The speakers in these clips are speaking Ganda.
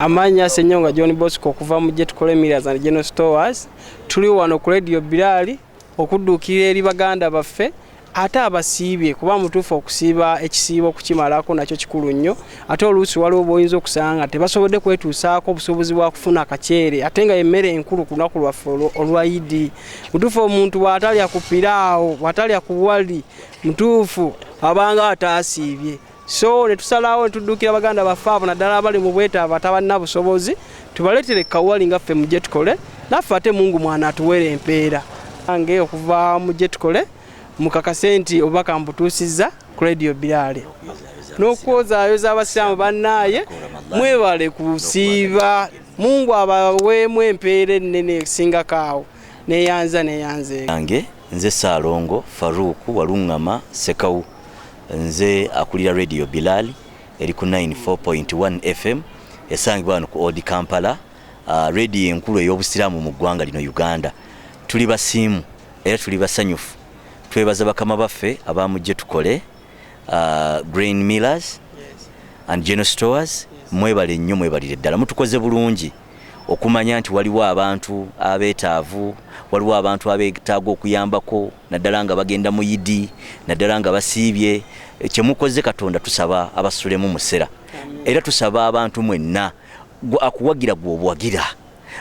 Amanya Senyonga John Bosco okuva mu Jetukole Millers and General Stores tuli wano ku Radio Bilali okudduukirira eri baganda baffe ate abasiibye kuba mutuufu okusiiba ekisiibo okukimalako nakyo kikulu nnyo ate oluusi waliwo boyinza okusanga nga tebasobodde kwetuusaako obusobozi bwa kufuna akaceere ate nga emmere enkulu ku lunaku lwaffe olwa idi mutuufu omuntu bw'atalya ku piraawo bw'atalya ku wali mutuufu abanga ataasiibye so ne tusalawo ne tuddukira baganda baffe abo naddala abali mu bwetaavu atabalina busobozi tubaleetere kawuwali nga ffe mu gye tukole naffe ate mungu mwana atuweera empeera ange okuva mu gye tukole mukakase nti obubaka mbutuusizza ku radio biraale n'okwozaayoza abasiraamu bannaaye mwebale kusiiba mungu abaweemu empeera ennene esingako awo neyanza neyanze yange nze saalongo faruuku waluŋŋama sekawu Nze akulira Radio Bilal eri ku 94.1 FM esangibwa wano ku Old Kampala, uh, radio enkulu ey'obusiraamu mu ggwanga lino Uganda. Tuli basiimu era tuli basanyufu. Twebaza bakama baffe abaamujje tukole uh, Grain Millers and General Stores mwebale nnyo mwebalire ddala mutukoze bulungi okumanya nti waliwo abantu abeetaavu waliwo abantu abeetaaga okuyambako naddala nga bagenda mu yidi naddala nga basiibye kyemukoze katonda tusaba abasulemu musera era tusaba abantu mwenna akuwagira gwobuwagira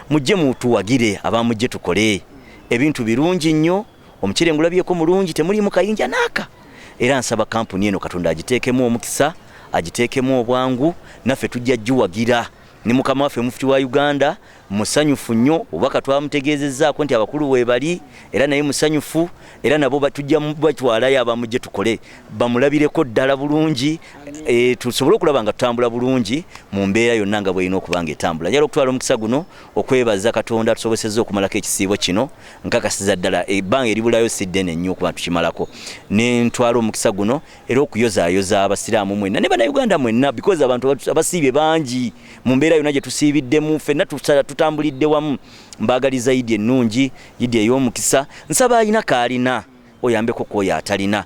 mujje mutuwagire abamujje tukole ebintu birungi nnyo omukyere ngulabyeko mulungi temulimu kayinja naaka era nsaba kampuni eno katonda agiteekemu omukisa agiteekemu obwangu naffe tujja giwagira ne mukama waffe mufuti wa uganda musanyufu nnyo obubaka twamutegeezezzaako nti abakulu weebali era naye musanyufu era nabo tujja batwalayo abamu gye tukole bamulabireko ddala bulungi e, tusobole okulaba nga tutambula bulungi mu mbeera yonna nga bwerina okuba nga etambula njala okutwala omukisa guno okwebaza katonda tusobosezza okumalako ekisiibo kino nkakasiza ddala ebbanga eribulayo si ddene nnyo okuba tukimalako ne ntwala omukisa guno era okuyozaayoza abasiraamu mwenna ne bannayuganda mwenna because abantu abasiibye bangi mu mbeera yonna gye tusiibiddemu fenna tutambulidde wamu mbaagaliza idi ennungi idi ey'omukisa nsaba alina kaalina oyambeko kwoyo atalina